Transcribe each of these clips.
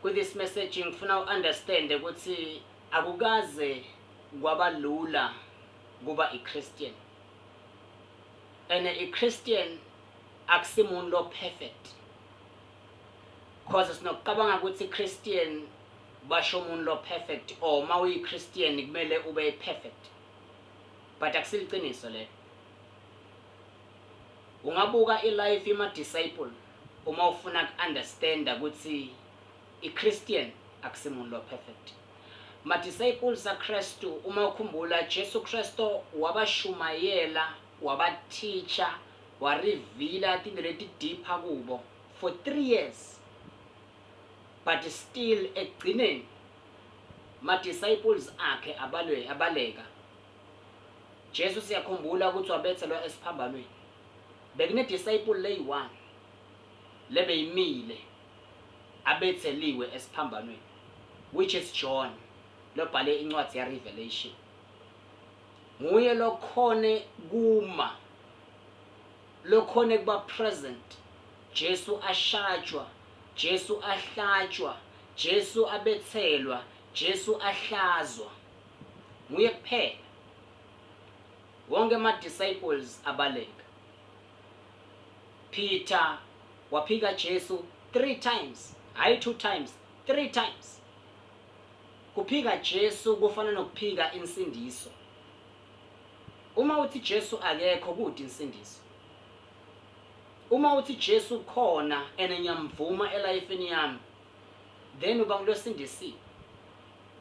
Ku this message ngifuna u understand ukuthi akukaze kwaba lula kuba i Christian. And i Christian akusimuntu lo perfect. Cause sinokucabanga ukuthi Christian basho umuntu lo perfect or uma uyi Christian kumele ube perfect. But akusiliciniso lelo. Ungabuka i life yema disciple uma ufuna ku understanda kuthi i Christian akusimuntu lo perfect. Ma disciples a Kristu uma ukhumbula Jesu Kristo wabashumayela waba teacher wa revealer tinto leti deeper kubo for three years but still ekugcineni ma disciples akhe abalwe abaleka. Jesu siyakhumbula ukuthi wabethelwa esiphambanweni. Bekunedisayipuli leyi-one lebeyimile abetheliwe esiphambanweni which is John lobhale incwadi yeRevelation. Nguye lokhone kuma lokhone kuba present Jesu ashajwa, Jesu ahlatshwa, Jesu abethelwa, Jesu ahlazwa. Nguye kuphela. Wonke ama disciples abaleka. Peter waphika Jesu 3 times, hayi 2 times, 3 times. Kuphika Jesu kufana nokuphika insindiso. Uma uthi Jesu akekho kude insindiso. Uma uthi Jesu khona and ngiyamvuma elifeni yami then uba ngilosindisiwe.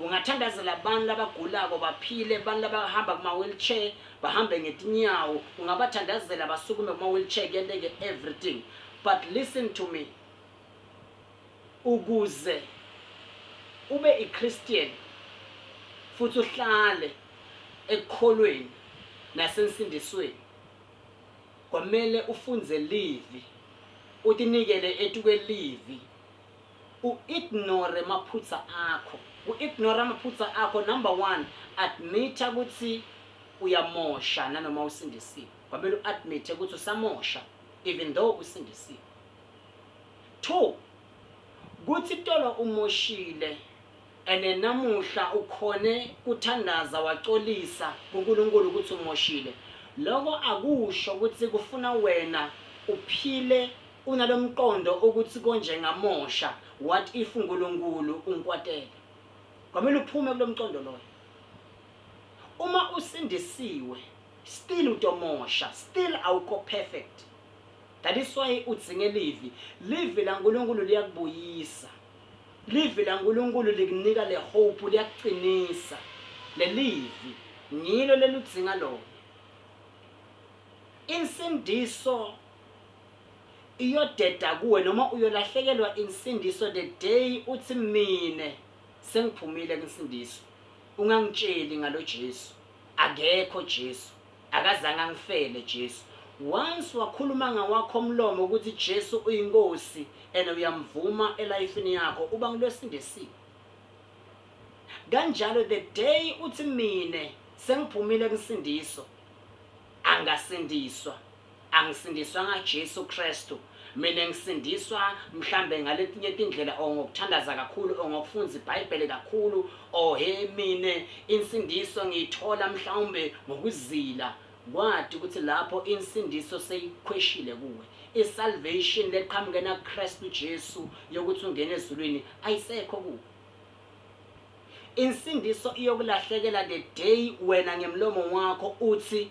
ungathandazela abantu labagulako baphile abantu labahamba kuma-wheelchair bahambe ngetinyawo ungabathandazela basukume kuma-wheelchair kuyenteke everything but listen to me ukuze ube i-christian futhi uhlale ekukholweni nasensindisweni kwamele ufunze livi utinikele etukwelivi u ignore maphutsa akho ku ignora maphutsa akho number one admita kutsi uyamosha nanoma usindisiwe kwamele u admite kutsi usamosha even though usindisiwe two kutsi tolo umoshile And namuhla ukhone kuthandaza waxolisa kuNkulunkulu ukuthi umoshile. Loko akusho ukuthi kufuna wena uphile unalomqondo ukuthi konje ngamosha what if uNkulunkulu unkwatele. Kwamele uphume kulomqondo loyo. Uma usindisiwe still utomosha still awukho perfect. That is why udzinge livi. Livi laNkulunkulu liyakubuyisa. Livi laNkulunkulu likunika le hope, liyakucinisa. Lelivi ngilo leludzinga lona. Insindiso iyodeda kuwe noma uyolahlekelwa insindiso the day uthi mina sengiphumile kunsindiso. Ungangitsheli ngalo Jesu. Akekho Jesu. Akazange angifele Jesu. Once wakhuluma ngawakho mlomo ukuthi Jesu uyinkosi and uyamvuma elifini yakho uba ngilwesindisiwe. Kanjalo the day uthi mine sengiphumile kusindiso angasindiswa. angisindiswa nga Jesu Kristu mina ngisindiswa mhlambe ngaletinye tindlela or ngokuthandaza kakhulu or ngokufunda iBhayibheli kakhulu or he mina insindiso ngiyithola mhlawumbe ngokuzila kwathi ukuthi lapho insindiso seyikhweshile kuwe isalvation leqhamuke na Kristu Jesu yokuthi ungene ezulwini ayisekho kuwe insindiso iyokulahlekela the day wena ngemlomo wakho uthi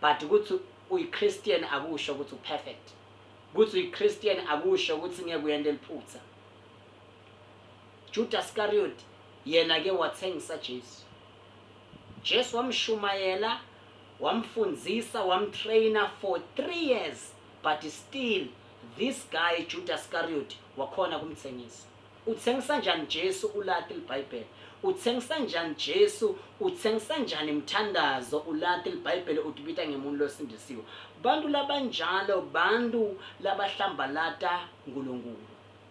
But ukuthi uyi Christian akusho ukuthi u perfect. Ukuthi uyi Christian akusho ukuthi ngeke uyente liphutha. Judas Iscariot yena ke wathengisa Jesu. Jesu wamshumayela, wamfundisa, wamtrainer for 3 years but still this guy Judas Iscariot wakhona kumthengisa. Uthengisa njani Jesu ulati libhayibheli uthengisa njani Jesu uthengisa njani mthandazo ulati libhayibheli utibita ngemuntu losindisiwe bantu labanjalo bantu labahlambalata uNkulunkulu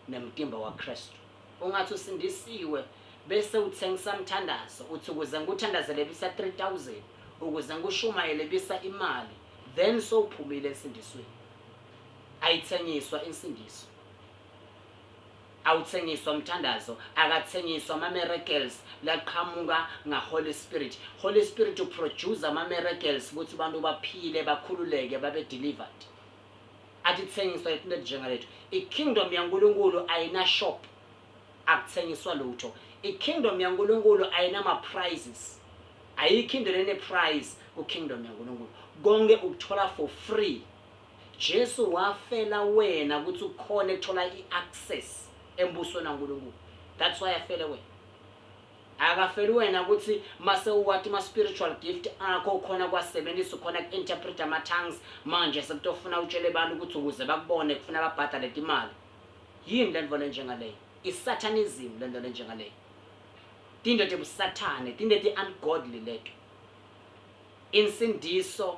nemtimba waKristu ungathi usindisiwe bese uthengisa mthandazo uthi ukuze ngikuthandazele bisa 3000 ukuze ngikushumayele bisa imali then sowuphumile ensindisweni ayithengiswa insindiso Awuthengiswa mthandazo akathengiswa ama miracles laqhamuka nga Holy Spirit Holy Spirit u produce ama miracles ukuthi abantu baphile bakhululeke babe delivered atithengiswa izinto ezinjengalethu i kingdom yaNkulunkulu ayina shop akuthengiswa lutho i kingdom yaNkulunkulu ayina ma prizes ayikho into lene prize ku kingdom yaNkulunkulu konke ukuthola for free Jesu wafela wena ukuthi ukhone kuthola i access embusweni kaNkulunkulu. That's why afele wena. Akafeli wena ukuthi mase uwati ma spiritual gift akho ukhona kwasebenzisa ukhona ku interpret ama tongues manje sekutofuna utshele abantu ukuthi ukuze bakubone kufuna babhadale imali. Yini lento lenjengaleyo? Isatanism lento lenjengaleyo. Tinto tebusathane, tinto ti ungodly leto. Insindiso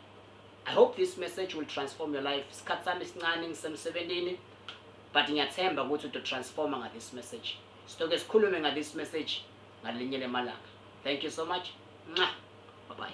I hope this message will transform your life. Isikhathi sami sincane ngisemsebenzini but ngiyathemba ukuthi uto transforma nga this message. Sitoke sikhulume nga this message ngalinye lemalanga. Thank you so much. Mwah. Bye bye.